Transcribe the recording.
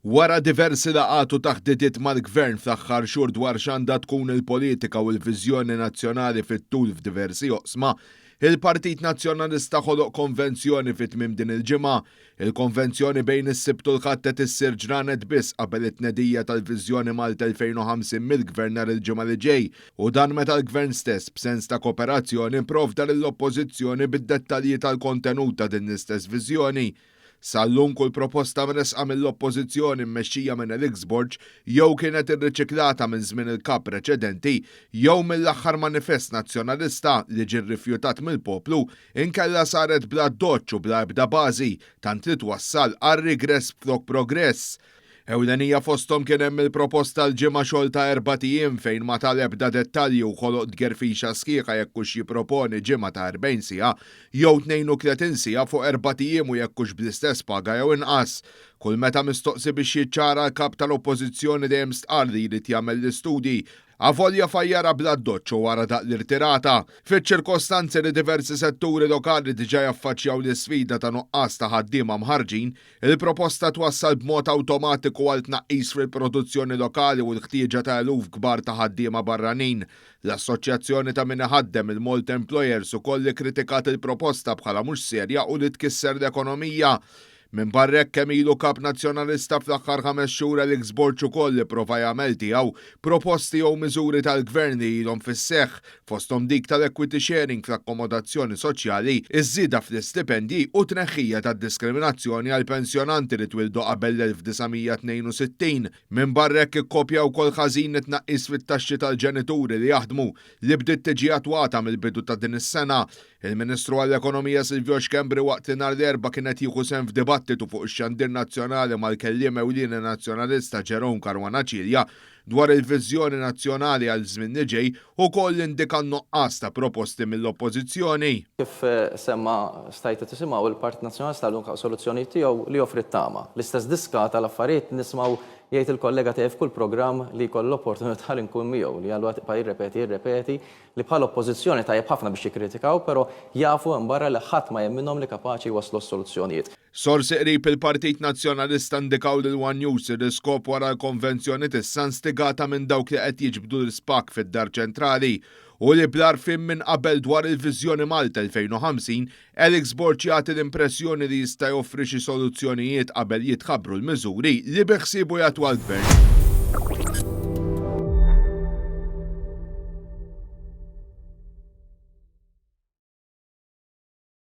Wara diversi laqgħat u taħditiet mal-Gvern fl-aħħar xhur dwar x'għandha tkun il-politika u l-viżjoni nazzjonali fit-tul f'diversi oqsma, il-Partit Nazzjonalista ħoloq konvenzjoni fi tmiem din il-ġimgħa. Il-konvenzjoni bejn is-Sibt u l-Ħadd qed issir ġranet biss qabel it-tnedija tal-Viżjoni Malta 2050 mill-Gvern nhar il-Ġimgħa li ġej u dan meta l-Gvern stess, b'sens ta' koperazzjoni, pprovda lill-Oppożizzjoni bid-dettalji tal-kontenut ta' din l-istess viżjoni. Sal-lum kull proposta mressqa mill-Oppożizzjoni mmexxija minn Alex Borg jew kienet irriċiklata minn żmien il-Kap preċedenti jew mill-aħħar Manifest Nazzjonalista li ġie rrifjutat mill-poplu inkella saret bl-addoċċ u bla ebda bażi tant li twassal għar-rigress flok progress. Ewlenija fosthom kien hemm il-proposta l-ġimgħa xogħol ta' erbat ijiem fejn ma ta l-ebda dettalji u ħoloq tgerfixa sħiħa jekk hux jipproponi ġimgħa ta' 40 siegħa jew 32 siegħa fuq erbat ijiem u jekk hux bl-istess paga jew inqas. Kull meta mistoqsi biex jiċċara l-Kap ta' l-Oppożizzjoni dejjem stqarr li jrid jagħmel l-istudji avolja fajjarha bl-addoċċ u wara daqq l-irtirata. Fiċ-ċirkostanzi li diversi setturi lokali diġà jaffaċċjaw l-isfida ta' nuqqas ta' ħaddiema mħarrġin, Il-proposta twassal b'mod awtomatiku għal tnaqqis fil-produzzjoni lokali u l-ħtieġa ta' eluf kbar ta' ħaddiema barranin. L-Assoċjazzjoni ta' Min Iħaddem, il-Malt Employers, ukoll ikkritikat il-proposta bħala mhux serja u li tkisser l-ekonomija. Minbarra hekk, kemm ilu Kap Nazzjonalista fl-aħħar ħames xhur Alex Borg ukoll ipprova jagħmel tiegħu proposti jew miżuri tal-Gvern li ilhom fis-seħħ fosthom dik tal-equity sharing fl-akkomodazzjoni soċjali, iż-żieda fl-istipendji u t-tneħħija tad-diskriminazzjoni għal pensjonanti li twieldu qabel l-1962. Minbarra hekk ikkopja wkoll ħażin it-tnaqqis fit-taxxi tal-ġenituri li jaħdmu li bdiet tiġi attwata mill-bidu ta' din is-sena. Il-Ministru għall-Ekonomija Silvio Schembri waqt li nhar l-Erbgħa kien qed jieħu sehem f'dibattitu fuq ix-xandir nazzjonali mal-Kelliem Ewlieni Nazzjonalista Jerome Caruana Cilia dwar il-viżjoni nazzjonali għall-żmien li ġej ukoll indika n-nuqqas ta' proposti mill-Oppożizzjoni. Kif semma stajtu tisimgħu l-Partit Nazzjonalista lnka u soluzzjonijiet tiegħu li joffri t-tama. L-istess diska tal-affarijiet nismgħu jgħid il-kollega tiegħi f'kull programm li jkollu l-opportunità li nkun miegħu li għal waqt ibqa' jirrepeti jirrepeti li bħala oppożizzjoni tajjeb ħafna biex jikkritikaw pero jafu hemm barra li ħadd ma jemminhom li kapaċi jwasslu għas-soluzzjonijiet. Sorsi qrib il-Partit Nazzjonalista ndikaw lil one News ir-riskop wara l-konvenzjoni t'issa nstigata minn dawk li qed jiġbdu l-ispakk fid-Dar Ċentrali u li bl-għarfien minn qabel dwar il-viżjoni Malta 2050 Alex Borg jagħti l-impressjoni li jista' joffri xi soluzzjonijiet qabel jitħabbru l-miżuri li beħsiebu jattwa l-Gvern.